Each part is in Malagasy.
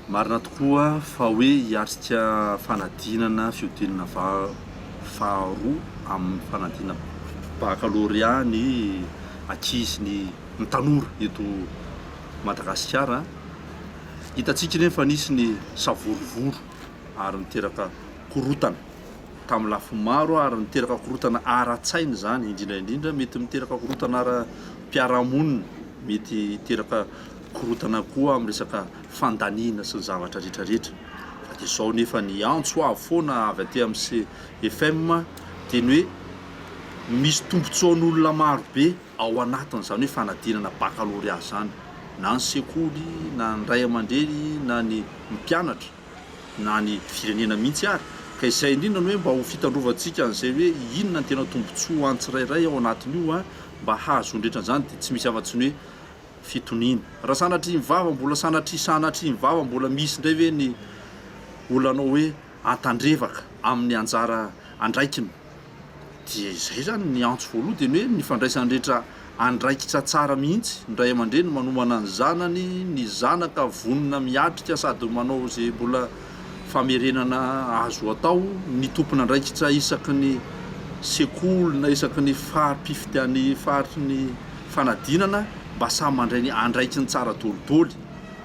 Marina tokoa fa hoe hiatrika fanadinana fihodinana faharoa amin'ny fanadinana bakalôrea ny ankizy, ny ny tanora eto Madagasikara. Hitantsika ireny fa nisy ny savorovoro ary niteraka korontana tamin'ny lafiny maro ary niteraka korontana ara-tsaina izany indrindra indrindra mety miteraka korontana ara-piarahamonina, mety hiteraka. korontana koa amin'ny resaka fandaniana sy ny zavatra rehetra rehetra fa dia izao nefa ny antso avo foana avy aty amin'ny CFM dia ny hoe misy tombotsoan'olona marobe ao anatiny izany hoe fanadinana bakalorea izany na ny sekoly na ny ray aman-dreny na ny mpianatra na ny firenena mihitsy ary ka izay indrindra ny hoe mba ho fitandrovantsika an'izay hoe inona ny tena tombotsoa an'ny tsirairay ao anatin'io an mba hahazoany rehetra an'izany dia tsy misy afa-tsy ny hoe fitoniana. Raha sanatria mivava mbola sanatria sanatria mivava mbola misy indray ve ny olanao hoe antandrevaka amin'ny anjara andraikiny? Dia izay izany ny antso voaloha dia ny hoe ny fandraisany rehetra andraikitra tsara mihitsy, ny ray aman-dreny manomana ny zanany, ny zanaka vonona miatrika sady manao izay mbola famerenana azo atao, ny tompon'andraikitra isaky ny sekoly na isaky ny fari-pifidian'ny faritry ny. fanadinana mba samy mandray ny andraikiny tsara doliboly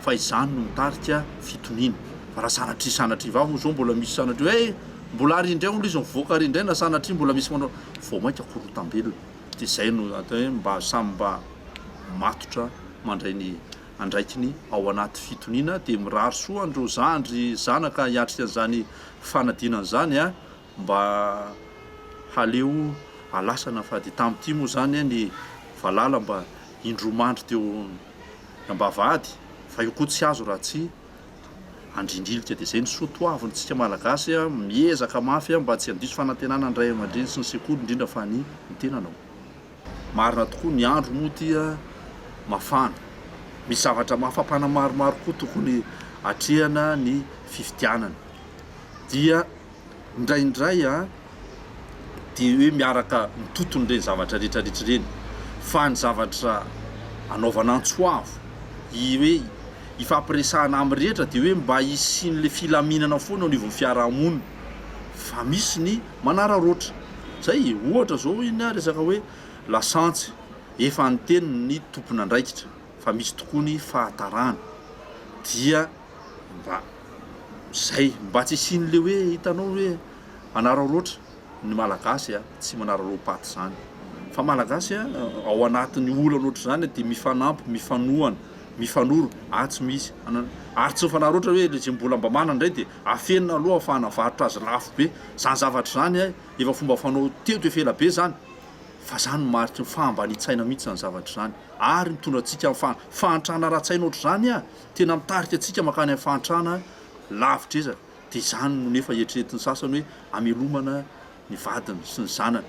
fa izany no mitarika fitoniana fa raha sanatria sanatria vavy moa zao mbola misy sanatria hoe mbola ary indray hono izy mivoaka ary indray na sanatria mbola misy manao vao mainka korotam-belona dia izay no atao hoe mba samy mba matotra mandray ny andraikiny ao anaty fitoniana dia mirary soa an'ireo zandry zanaka hiatrika an'izany fanadinana izany a mba haleo alasana fa dia tamin'ity moa izany ny valala mba indroa mandry teo am-bavahady fa io koa tsy azo raha tsy andrindrilika dia izay ny soa toavintsika malagasy a, miezaka mafy a mba tsy handiso fanantenana ny ray aman-dreny sy ny sekoly indrindra fa ny ny tenanao. Marina tokoa ny andro moa ity a mafana misy zavatra mafampana maromaro koa tokony atrehana ny fifidianana dia. Indraindray dia hoe miaraka mitontona ireny zavatra retraretra ireny fa ny zavatra anaovana antso avo i hoe ifampiresahana amin'ny rehetra dia hoe mba hisian'ilay filaminana foana eo anivon'ny fiaraha-monina fa misy ny manararaotra izay e! ohatra izao iny resaka hoe lasantsy efa niteny ny tompon'andraikitra fa misy tokoa ny fahatarana dia mba izay mba tsy hisian'le hoe hitanao hoe manararaotra ny malagasy a, tsy manararaom-paty izany fa malagasy a ao anatin'ny olana ohatr'izany dia mifanampy, mifanohana, mifanoro ary tsy misy anana ary tsy mifanararaotra hoe le ze mbola mba manana indray dia afenina aloha afahana mivarotra azy lafo be, izany zavatra izany a efa fomba fanao teto efa ela be izany fa izany no mariky ny fahambanian-tsaina mihitsy izany zavatra izany ary mitondra antsika amin'ny fa- fahantrana ara-tsaina ohatr'izany a, Tena mitarika antsika mankany amin'ny fahantrana lavitr'ezaka, dia izany no nefa eritreretin'ny sasany hoe hamelomana ny vadiny sy ny zanany.